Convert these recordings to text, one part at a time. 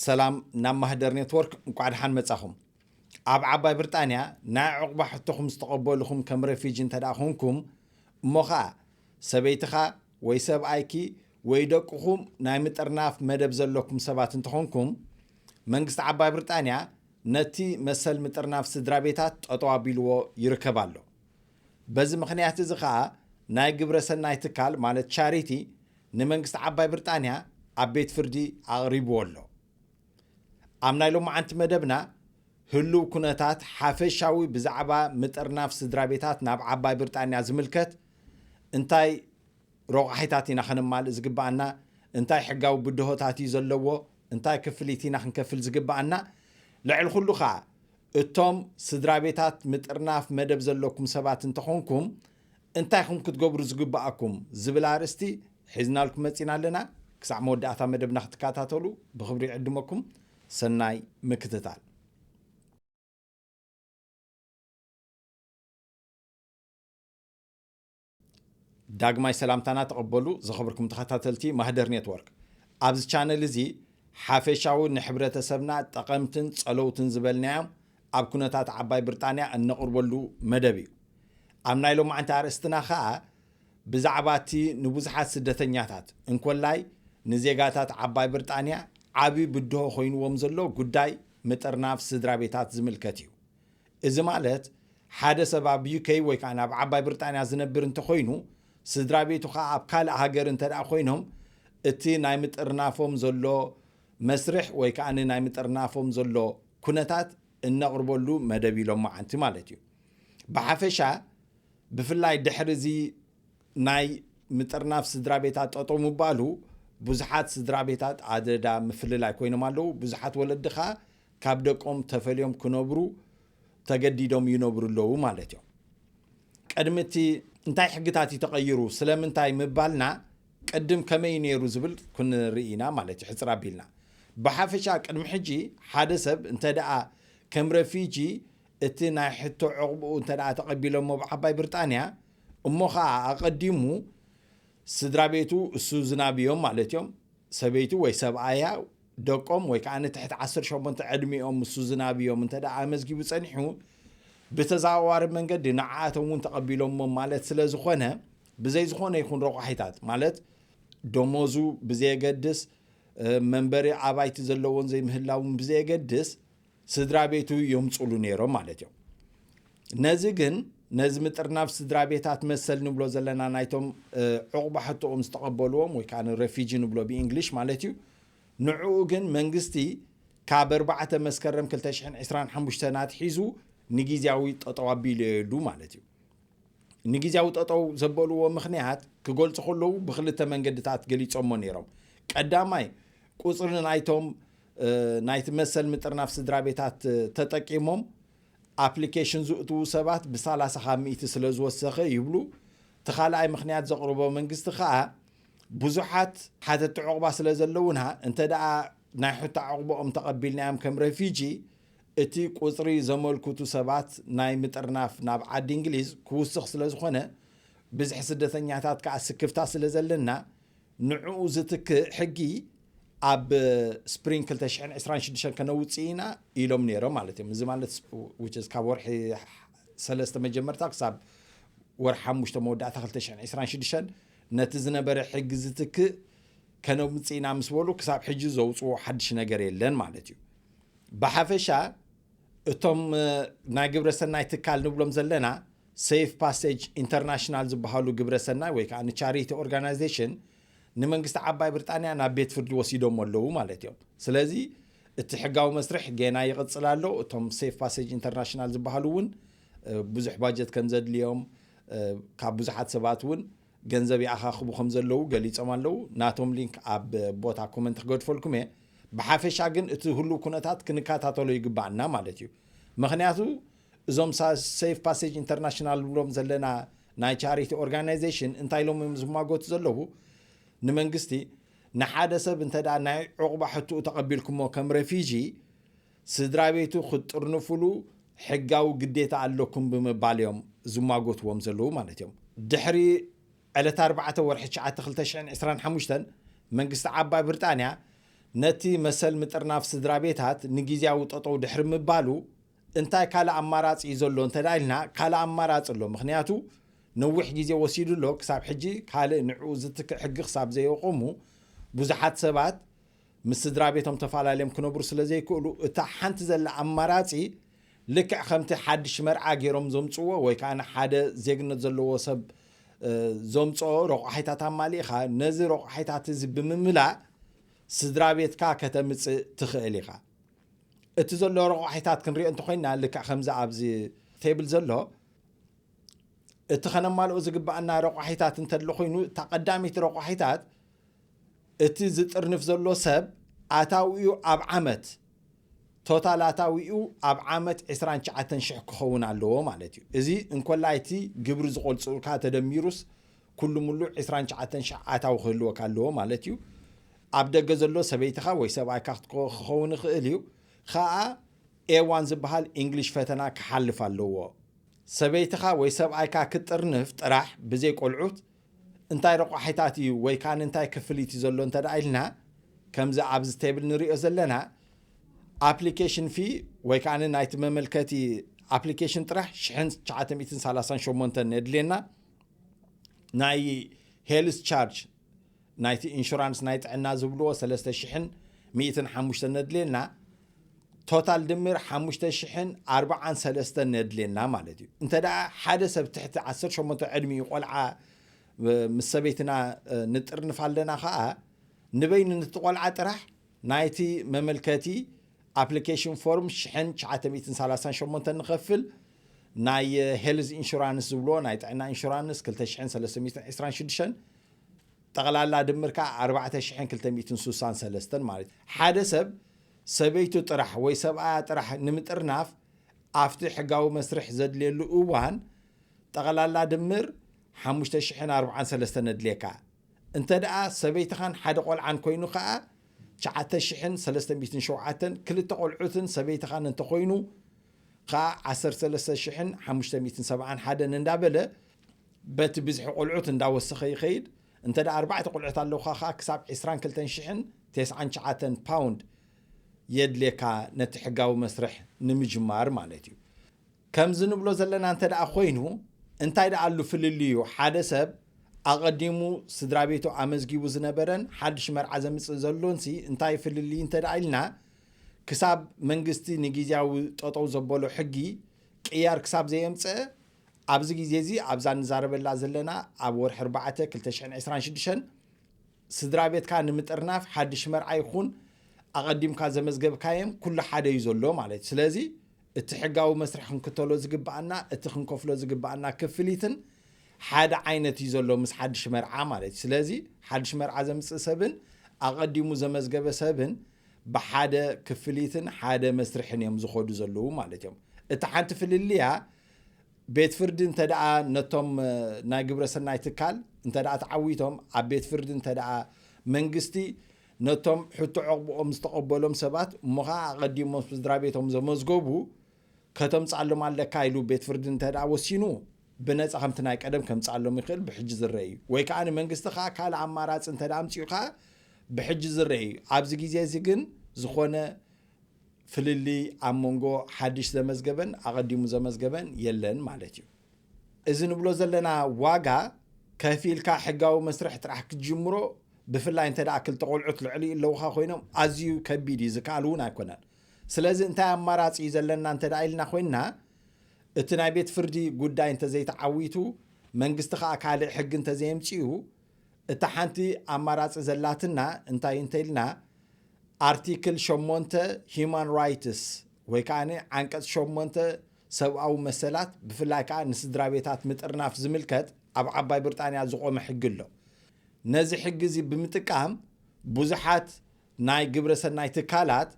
ሰላም ናብ ማህደር ኔትወርክ እንኳዕ ደሓን መጻኹም ኣብ ዓባይ ብርጣንያ ናይ ዕቑባ ሕቶኹም ዝተቐበልኹም ከም ረፊጂ እንተ ደኣ ኾንኩም እሞ ኸኣ ሰበይትኻ ወይ ሰብኣይኪ ወይ ደቅኹም ናይ ምጥርናፍ መደብ ዘለኩም ሰባት እንተኾንኩም መንግስቲ ዓባይ ብርጣንያ ነቲ መሰል ምጥርናፍ ስድራቤታት ጠጠው ኣቢልዎ ይርከብ ኣሎ። በዚ ምኽንያት እዚ ከኣ ናይ ግብረ ሰናይ ትካል ማለት ቻሪቲ ንመንግስቲ ዓባይ ብርጣንያ ኣብ ቤት ፍርዲ ኣቕሪብዎ ኣሎ። ኣብ ናይ ሎማዓንቲ መደብና ህሉው ኩነታት ሓፈሻዊ ብዛዕባ ምጥርናፍ ስድራቤታት ናብ ዓባይ ብርጣንያ ዝምልከት እንታይ ሮቛሒታት ኢና ከነማልእ ዝግበኣና እንታይ ሕጋዊ ብድሆታት እዩ ዘለዎ እንታይ ክፍሊት ኢና ክንከፍል ዝግብኣና? ልዕሊ ኹሉ ኸኣ እቶም ስድራቤታት ምጥርናፍ መደብ ዘለኩም ሰባት እንተኾንኩም እንታይ ኢኹም ክትገብሩ ዝግብኣኩም? ዝብል ኣርእስቲ ሒዝናልኩም መጺና ኣለና። ክሳዕ መወዳእታ መደብና ክትከታተሉ ብኽብሪ ይዕድመኩም። ሰናይ ምክትታል። ዳግማይ ሰላምታና ተቐበሉ ዝኸብርኩም ተኸታተልቲ ማህደር ኔትወርክ። ኣብዚ ቻነል እዚ ሓፈሻዊ ንሕብረተሰብና ጠቐምትን ጸለውትን ዝበልናዮም ኣብ ኩነታት ዓባይ ብርጣንያ እነቕርበሉ መደብ እዩ። ኣብ ናይ ሎማዕንቲ ኣርእስትና ከኣ ብዛዕባ እቲ ንብዙሓት ስደተኛታት እንኮላይ ንዜጋታት ዓባይ ብርጣንያ ዓቢ ብድሆ ኮይንዎም ዘሎ ጉዳይ ምጥርናፍ ስድራቤታት ዝምልከት እዩ። እዚ ማለት ሓደ ሰብ ኣብ ዩከይ ወይ ከኣ ኣብ ዓባይ ብርጣንያ ዝነብር እንተኾይኑ ስድራቤቱ ከኣ ኣብ ካልእ ሃገር እንተደኣ ኮይኖም እቲ ናይ ምጥርናፎም ዘሎ መስርሕ ወይ ከኣ ናይ ምጥርናፎም ዘሎ ኩነታት እነቕርበሉ መደብ ኢሎም መዓንቲ ማለት እዩ። ብሓፈሻ ብፍላይ ድሕሪ እዚ ናይ ምጥርናፍ ስድራቤታት ጠጠው ምባሉ ብዙሓት ስድራቤታት ኣደዳ ምፍልላይ ኮይኖም ኣለዉ። ብዙሓት ወለዲ ከኣ ካብ ደቆም ተፈልዮም ክነብሩ ተገዲዶም ይነብሩ ኣለዉ ማለት እዮም። ቅድሚ እቲ እንታይ ሕግታት እዩ ተቐይሩ ስለምንታይ ምባልና ቅድም ከመይ ነይሩ ዝብል ክንርኢ ኢና ማለት እዩ ሕፅር ኣቢልና ብሓፈሻ ቅድሚ ሕጂ ሓደ ሰብ እንተ ደኣ ከም ረፊጂ እቲ ናይ ሕቶ ዕቕብኡ እንተ ደኣ ተቐቢሎሞ ብዓባይ ብርጣንያ እሞ ኸዓ ኣቐዲሙ ስድራ ቤቱ እሱ ዝናብ እዮም ማለት እዮም። ሰበይቱ ወይ ሰብኣያ፣ ደቆም ወይ ከኣ ትሕቲ ዓሰርተ ሸሞንተ ዕድሚኦም እሱ ዝናብ እዮም እንተ ደኣ ኣመዝጊቡ ጸኒሑ፣ ብተዘዋዋሪ መንገዲ ንዓኣቶም እውን ተቐቢሎሞም ማለት ስለ ዝኾነ፣ ብዘይ ዝኾነ ይኹን ረቋሒታት ማለት ደሞዙ ብዘየገድስ፣ መንበሪ ኣባይቲ ዘለዎን ዘይምህላውን ብዘየገድስ፣ ስድራ ቤቱ የምፁሉ ነይሮም ማለት እዮም። ነዚ ግን ነዚ ምጥርናፍ ስድራ ቤታት መሰል ንብሎ ዘለና ናይቶም ዕቑባ ሕቶኦም ዝተቐበልዎም ወይ ከዓ ረፊጂ ንብሎ ብእንግሊሽ ማለት እዩ ንዕኡ ግን መንግስቲ ካብ ኣርባዕተ መስከረም 225 ኣትሒዙ ንግዜያዊ ጠጠው ኣቢለየሉ ማለት እዩ ንግዜያዊ ጠጠው ዘበልዎ ምክንያት ክገልፁ ከለዉ ብክልተ መንገድታት ገሊፆሞ ነይሮም ቀዳማይ ቁፅሪ ናይቶም ናይቲ መሰል ምጥርናፍ ስድራቤታት ተጠቂሞም ኣፕሊኬሽን ዝእትዉ ሰባት ብሳላሳ ካብ ሚእቲ ስለ ዝወሰኸ ይብሉ። እቲ ካልኣይ ምኽንያት ዘቕርቦ መንግስቲ ከኣ ብዙሓት ሓተቲ ዑቕባ ስለ ዘለዉና እንተደኣ ናይ ሑታ ዑቕባኦም ተቐቢልናዮም ከም ረፊጂ እቲ ቁጽሪ ዘመልክቱ ሰባት ናይ ምጥርናፍ ናብ ዓዲ እንግሊዝ ክውስኽ ስለ ዝኾነ ብዝሒ ስደተኛታት ከኣ ስክፍታ ስለ ዘለና ንዕኡ ዝትክእ ሕጊ ኣብ ስፕሪንግ ክልተ ሽሕን ዕስራን ሽዱሽተን ከነውፅእ ኢና ኢሎም ነይሮም ማለት እዮም እዚ ማለት ስ- which is ካብ ወርሒ ሰለስተ መጀመርታ ክሳብ ወርሒ ሓሙሽተ መወዳእታ ክልተ ሽሕን ዕስራን ሽዱሽተን ነቲ ዝነበረ ሕጊ ዝትክእ ከነውፅእ ኢና ምስ በሉ ክሳብ ሕጂ ዘውፅዎ ሓድሽ ነገር የለን ማለት እዩ ብሓፈሻ እቶም እ፣ ናይ ግብረ ሰናይ ትካል ንብሎም ዘለና ሴፍ ፓሰጅ ኢንተርናሽናል ዝበሃሉ ግብረ ሰናይ ወይ ከኣ ቻሪቲ ኦርጋናይዜሽን ንመንግስቲ ዓባይ ብርጣንያ ናብ ቤት ፍርዲ ወሲዶሞ ኣለዉ ማለት እዮም። ስለዚ እቲ ሕጋዊ መስርሕ ጌና ይቕጽል ኣሎ። እቶም ሴፍ ፓሰጅ ኢንተርናሽናል ዝበሃሉ እውን ብዙሕ ባጀት ከም ዘድልዮም ካብ ብዙሓት ሰባት እውን ገንዘብ ይኣኻኽቡ ከም ዘለዉ ገሊጾም ኣለዉ። ናቶም ሊንክ ኣብ ቦታ ኮመንት ክገድፈልኩም እየ። ብሓፈሻ ግን እቲ ህሉው ኩነታት ክንከታተሎ ይግባኣና ማለት እዩ። ምኽንያቱ እዞም ሴፍ ፓሴጅ ኢንተርናሽናል ንብሎም ዘለና ናይ ቻሪቲ ኦርጋናይዜሽን እንታይ ኢሎም እዮም ዝማጎቱ ዘለዉ ንመንግስቲ ንሓደ ሰብ እንተ ናይ ዕቑባ ሕትኡ ተቐቢልኩሞ ከም ረፊጂ ስድራ ቤቱ ክትጥርንፍሉ ሕጋዊ ግዴታ ኣለኩም ብምባል እዮም ዝማጎትዎም ዘለዉ ማለት እዮም ድሕሪ ዕለት 4 ወርሒ 9 2025 መንግስቲ ዓባይ ብርጣንያ ነቲ መሰል ምጥርናፍ ስድራ ቤታት ንግዜያዊ ጠጠው ድሕሪ ምባሉ እንታይ ካልእ ኣማራጺ እዩ ዘሎ እንተ ኢልና፣ ካልእ ኣማራጺ ኣሎ፣ ምኽንያቱ ነዊሕ ግዜ ወሲዱ ኣሎ፣ ክሳብ ሕጂ ካልእ ንዕኡ ዝትክእ ሕጊ ክሳብ ዘየቖሙ፣ ብዙሓት ሰባት ምስ ስድራቤቶም ተፈላለዮም ክነብሩ ስለ ዘይክእሉ፣ እታ ሓንቲ ዘላ ኣማራጺ ልክዕ ከምቲ ሓድሽ መርዓ ገይሮም ዘምጽዎ ወይ ከኣ ሓደ ዜግነት ዘለዎ ሰብ ዘምጽኦ ረቋሒታት ኣማሊእኻ ነዚ ረቋሒታት እዚ ብምምላእ ስድራቤትካ ከተምጽእ ትኽእል ኢኻ። እቲ ዘሎ ረቋሒታት ክንሪኦ እንተኾይና ልክዕ ከምዚ ኣብዚ ቴብል ዘሎ እቲ ከነማልኦ ዝግባኣና ረቋሒታት እንተሎ ኮይኑ እታ ቀዳሚት ረቋሒታት እቲ ዝጥርንፍ ዘሎ ሰብ ኣታዊኡ ኣብ ዓመት ቶታል ኣታዊኡ ኣብ ዓመት 29 ሽሕ ክኸውን ኣለዎ ማለት እዩ እዚ እንኮላይ እቲ ግብሪ ዝቆልፅኡልካ ተደሚሩስ ኩሉ ሙሉ ዕስራን ትሽዓተን ሽሕ ኣታዊ ክህልወካ ኣለዎ ማለት እዩ። ኣብ ደገ ዘሎ ሰበይትኻ ወይ ሰብኣይካ ክትክ- ክኸውን ይኽእል እዩ። ኸኣ A1 ዝበሃል ኢንግሊሽ ፈተና ክሓልፍ ኣለዎ። ሰበይትኻ ወይ ሰብኣይካ ክትጥርንፍ ጥራሕ ብዘይ ቆልዑት እንታይ ረቋሒታት እዩ ወይ ከኣ እንታይ ክፍሊት እዩ ዘሎ እንተደኣ ኢልና ከምዚ ኣብዚ ቴብል ንሪኦ ዘለና ኣፕሊኬሽን ፊ ወይ ከኣ ናይቲ መመልከቲ ኣፕሊኬሽን ጥራሕ ሽሕን ትሽዓተ ሚእትን ሰላሳን ሸሞንተን የድልየና። ናይ ሄልስ ቻርጅ ናይቲ ኢንሹራንስ ናይ ጥዕና ዝብልዎ ሰለስተ ሽሕን ሚእትን ሓሙሽተን ነድልየና ቶታል ድምር ሓሙሽተ ሽሕን ኣርባዓን ሰለስተን ነድልየና ማለት እዩ እንተ ደኣ ሓደ ሰብ ትሕቲ ዓሰርተ ሸሞንተ ዕድሚኡ ቆልዓ ምስ ሰበይትና ንጥርንፍ ኣለና ከዓ ንበይኑ ነቲ ቆልዓ ጥራሕ ናይቲ መመልከቲ ኣፕሊኬሽን ፎርም ሽሕን ትሽዓተ ሚእትን ሰላሳን ሸሞንተን ንኸፍል ናይ ሄልዝ ኢንሹራንስ ዝብልዎ ናይ ጥዕና ኢንሹራንስ ክልተ ሽሕን ሰለስተ ሚእትን ዕስራን ሽዱሽተን ጠቕላላ ድምር ከዓ ኣርባዕተ ሽሕን ክልተ ሚእትን ሱሳን ሰለስተን ማለት እዩ። ሓደ ሰብ ሰበይቱ ጥራሕ ወይ ሰብኣያ ጥራሕ ንምጥርናፍ ኣብቲ ሕጋዊ መስርሕ ዘድልየሉ እዋን ጠቕላላ ድምር ሓሙሽተ ሽሕን ኣርብዓን ሰለስተን የድልየካ። እንተ ደኣ ሰበይትኻን ሓደ ቆልዓን ኮይኑ ከኣ ትሽዓተ ሽሕን ሰለስተ ሚእትን ሸውዓተን፣ ክልተ ቆልዑትን ሰበይትኻን እንተ ኮይኑ ከኣ ዓሰርተ ሰለስተ ሽሕን ሓሙሽተ ሚእትን ሰብዓን ሓደን እንዳ በለ በቲ ብዝሒ ቆልዑት እንዳ ወሰኸ ይኸይድ። እንተ ደኣ ኣርባዕተ ቆልዑት ኣለውኻ ከኣ ክሳብ ዕስራን ክልተን ሽሕን ተስዓን ትሽዓተን ፓውንድ የድልየካ ነቲ ሕጋዊ መስርሕ ንምጅማር ማለት እዩ። ከምዚ ንብሎ ዘለና እንተ ደኣ ኮይኑ እንታይ ደኣ ኣሉ ፍልልዩ ሓደ ሰብ ኣቐዲሙ ስድራ ቤቱ ኣመዝጊቡ ዝነበረን ሓድሽ መርዓ ዘምጽእ ዘሎንሲ እንታይ ፍልልይ እንተ ደኣ ኢልና ክሳብ መንግስቲ ንጊዜያዊ ጠጠው ዘበሎ ሕጊ ቅያር ክሳብ ዘየምጸእ ኣብዚ ግዜ እዚ ኣብዛ ንዛረበላ ዘለና ኣብ ወርሒ ኣርባዕተ ክልተ ሽሕን ዕስራን ሽዱሽተን ስድራ ቤትካ ንምጥርናፍ ሓድሽ መርዓ ይኹን ኣቐዲምካ ዘመዝገብካየም ኩሉ ሓደ እዩ ዘሎ ማለት እዩ ስለዚ እቲ ሕጋዊ መስርሕ ክንክተሎ ዝግበኣና እቲ ክንከፍሎ ዝግበኣና ክፍሊትን ሓደ ዓይነት እዩ ዘሎ ምስ ሓድሽ መርዓ ማለት እዩ። ስለዚ ሓድሽ መርዓ ዘምጽእ ሰብን ኣቐዲሙ ዘመዝገበ ሰብን ብሓደ ክፍሊትን ሓደ መስርሕን እዮም ዝኸዱ ዘለዉ ማለት እዮም። እታ ሓንቲ ፍልልያ ቤት ፍርዲ እንተ ደኣ ነቶም ናይ ግብረ ሰናይ ትካል እንተ ደኣ ተዓዊቶም ኣብ ቤት ፍርዲ እንተ ደኣ መንግስቲ ነቶም ሕቶ ዕቕብኦም ዝተቐበሎም ሰባት እሞ ኸኣ ኣቐዲሞም ምስ ስድራቤቶም ዘመዝገቡ ከተምጽኣሎም ኣለካ ኢሉ ቤት ፍርዲ እንተድኣ ወሲኑ ብነጻ ከምቲ ናይ ቀደም ከምጽኣሎም ይኽእል ብሕጂ ዝረኣ እዩ ወይ ከኣ ንመንግስቲ ከኣ ካልእ ኣማራጺ እንተድኣ ኣምጺኡ ከኣ ብሕጂ ዝረኣ እዩ ኣብዚ ግዜ እዚ ግን ዝኾነ ፍልልይ ኣብ መንጎ ሓድሽ ዘመዝገበን ኣቐዲሙ ዘመዝገበን የለን ማለት እዩ። እዚ ንብሎ ዘለና ዋጋ ከፊልካ ሕጋዊ መስርሕ ጥራሕ ክትጅምሮ ብፍላይ እንተ ክልተ ቆልዑት ልዕሊኡ ኣለውኻ ኮይኖም ኣዝዩ ከቢድ እዩ ዝከኣል እውን ኣይኮነን ስለዚ እንታይ ኣማራፂ እዩ ዘለና እንተ ኢልና ኮይንና እቲ ናይ ቤት ፍርዲ ጉዳይ እንተዘይተዓዊቱ መንግስቲ ከዓ ካልእ ሕጊ እንተዘየምፅኡ እታ ሓንቲ ኣማራፂ ዘላትና እንታይ እንተ ኢልና ኣርቲክል ሸሞንተ ሂማን ራይትስ ወይ ከዓ ዓንቀፅ ሸሞንተ ሰብኣዊ መሰላት ብፍላይ ከኣ ንስድራቤታት ምጥርናፍ ዝምልከት ኣብ ዓባይ ብርጣንያ ዝቖመ ሕጊ ኣሎ። ነዚ ሕጊ እዚ ብምጥቃም ብዙሓት ናይ ግብረ ሰናይ ትካላት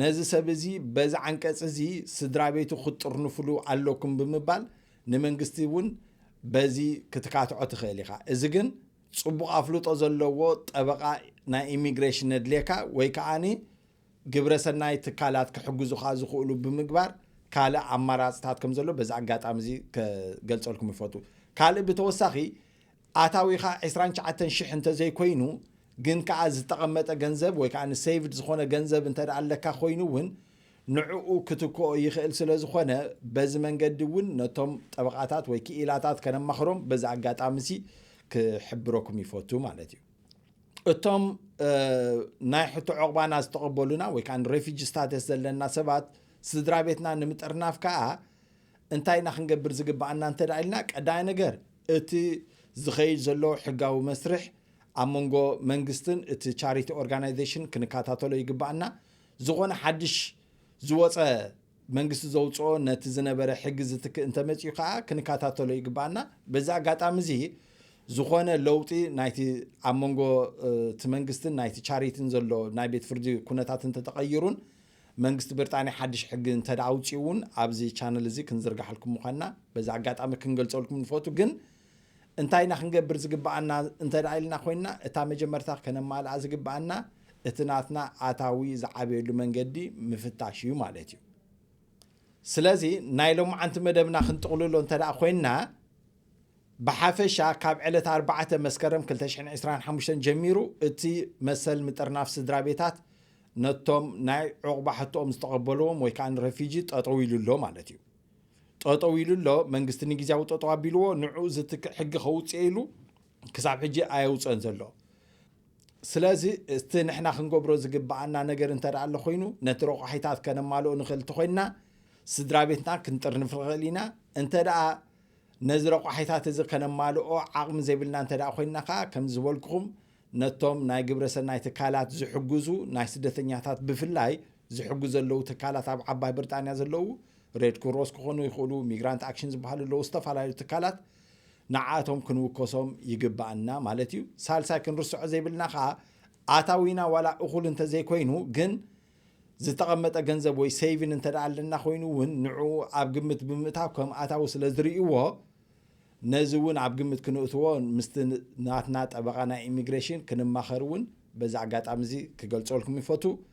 ነዚ ሰብ እዚ በዚ ዓንቀጽ እዚ ስድራቤቱ ክትጥርንፍሉ ኣለኩም ብምባል ንመንግስቲ እውን በዚ ክትካትዖ ትኽእል ኢኻ። እዚ ግን ጽቡቕ ኣፍልጦ ዘለዎ ጠበቓ ናይ ኢሚግሬሽን ነድልየካ ወይ ከኣ ግብረ ሰናይ ትካላት ክሕግዙኻ ዝኽእሉ ብምግባር ካልእ ኣማራፅታት ከም ዘሎ በዚ ኣጋጣሚ እዚ ከገልፀልኩም ይፈቱ ካልእ ብተወሳኺ ኣታዊኻ 29 ሽሕ እንተዘይኮይኑ ግን ከዓ ዝተቐመጠ ገንዘብ ወይ ከዓ ሴቭድ ዝኾነ ገንዘብ እንተ ኣለካ ኮይኑ እውን ንዕኡ ክትክኦ ይኽእል ስለ ዝኾነ በዚ መንገዲ እውን ነቶም ጠበቓታት ወይ ክኢላታት ከነማኽሮም በዚ ኣጋጣሚ እዚ ክሕብረኩም ይፈቱ ማለት እዩ እቶም ናይ ሕቶ ዕቑባና ዝተቐበሉና ወይ ከዓ ንሬፊጂ ስታተስ ዘለና ሰባት ስድራ ቤትና ንምጥርናፍ ከዓ እንታይ ኢና ክንገብር ዝግባኣና እንተ ኢልና ቀዳይ ነገር እቲ ዝኸይድ ዘሎ ሕጋዊ መስርሕ ኣብ መንጎ መንግስትን እቲ ቻሪቲ ኦርጋናይዜሽን ክንከታተሎ ይግባኣና ዝኾነ ሓድሽ ዝወፀ መንግስቲ ዘውፅኦ ነቲ ዝነበረ ሕጊ ዝትክእ እንተመፅኡ ከዓ ክንከታተሎ ይግባኣና በዚ ኣጋጣሚ እዚ ዝኾነ ለውጢ ናይቲ ኣብ መንጎ እቲ መንግስትን ናይቲ ቻሪትን ዘሎ ናይ ቤት ፍርዲ ኩነታት እንተተቐይሩን መንግስቲ ብርጣንያ ሓድሽ ሕጊ እንተ ኣውፅኡ እውን ኣብዚ ቻነል እዚ ክንዝርጋሓልኩም ምዃንና በዚ ኣጋጣሚ ክንገልፀልኩም ንፈቱ ግን እንታይ ኢና ክንገብር ዝግብኣና እንተ ኢልና ኮይንና እታ መጀመርታ ከነማልኣ ዝግብኣና እቲ ናትና ኣታዊ ዝዓበየሉ መንገዲ ምፍታሽ እዩ ማለት እዩ ስለዚ ናይ ሎማዓንቲ መደብና ክንጥቕልሎ እንተ ኮይንና ብሓፈሻ ካብ ዕለት 4 መስከረም 225 ጀሚሩ እቲ መሰል ምጥርናፍ ስድራ ቤታት ነቶም ናይ ዑቕባ ሕቶኦም ዝተቐበልዎም ወይ ከዓ ንረፊጂ ጠጠው ኢሉ ኣሎ ማለት እዩ ጠጠው ኢሉ ኣሎ መንግስቲ ንግዜያዊ ጠጠው ኣቢልዎ ንዑኡ ዝትክእ ሕጊ ከውፅኤ ኢሉ ክሳብ ሕጂ ኣየውፀን ዘሎ ስለዚ እቲ ንሕና ክንገብሮ ዝግብኣና ነገር እንተ ኣሎ ኮይኑ ነቲ ረቋሒታት ከነማልኦ ንኽእል እንተኮይንና ስድራ ቤትና ክንጥርንፍ ንኽእል ኢና እንተ ነዚ ረቋሒታት እዚ ከነማልኦ ዓቕሚ ዘይብልና እንተ ኮይንና ከዓ ከም ዝበልኩኹም ነቶም ናይ ግብረ ሰናይ ትካላት ዝሕግዙ ናይ ስደተኛታት ብፍላይ ዝሕግዙ ዘለዉ ትካላት ኣብ ዓባይ ብሪጣንያ ዘለዉ ሬድ ክሮስ ክኾኑ ይኽእሉ፣ ሚግራንት ኣክሽን ዝበሃሉ ኣለዉ፣ ዝተፈላለዩ ትካላት ንዓቶም ክንውከሶም ይግባኣና ማለት እዩ። ሳልሳይ ክንርስዖ ዘይብልና ከዓ ኣታዊና ዋላ እኹል እንተዘይኮይኑ ግን ዝተቐመጠ ገንዘብ ወይ ሰይቪን እንተ ኣለና ኮይኑ እውን ንዑ ኣብ ግምት ብምእታው ከም ኣታዊ ስለ ዝርእይዎ ነዚ እውን ኣብ ግምት ክንእትዎ ምስቲ ናትና ጠበቓ ናይ ኢሚግሬሽን ክንማኸር እውን በዚ ኣጋጣሚ እዚ ክገልፀልኩም ይፈቱ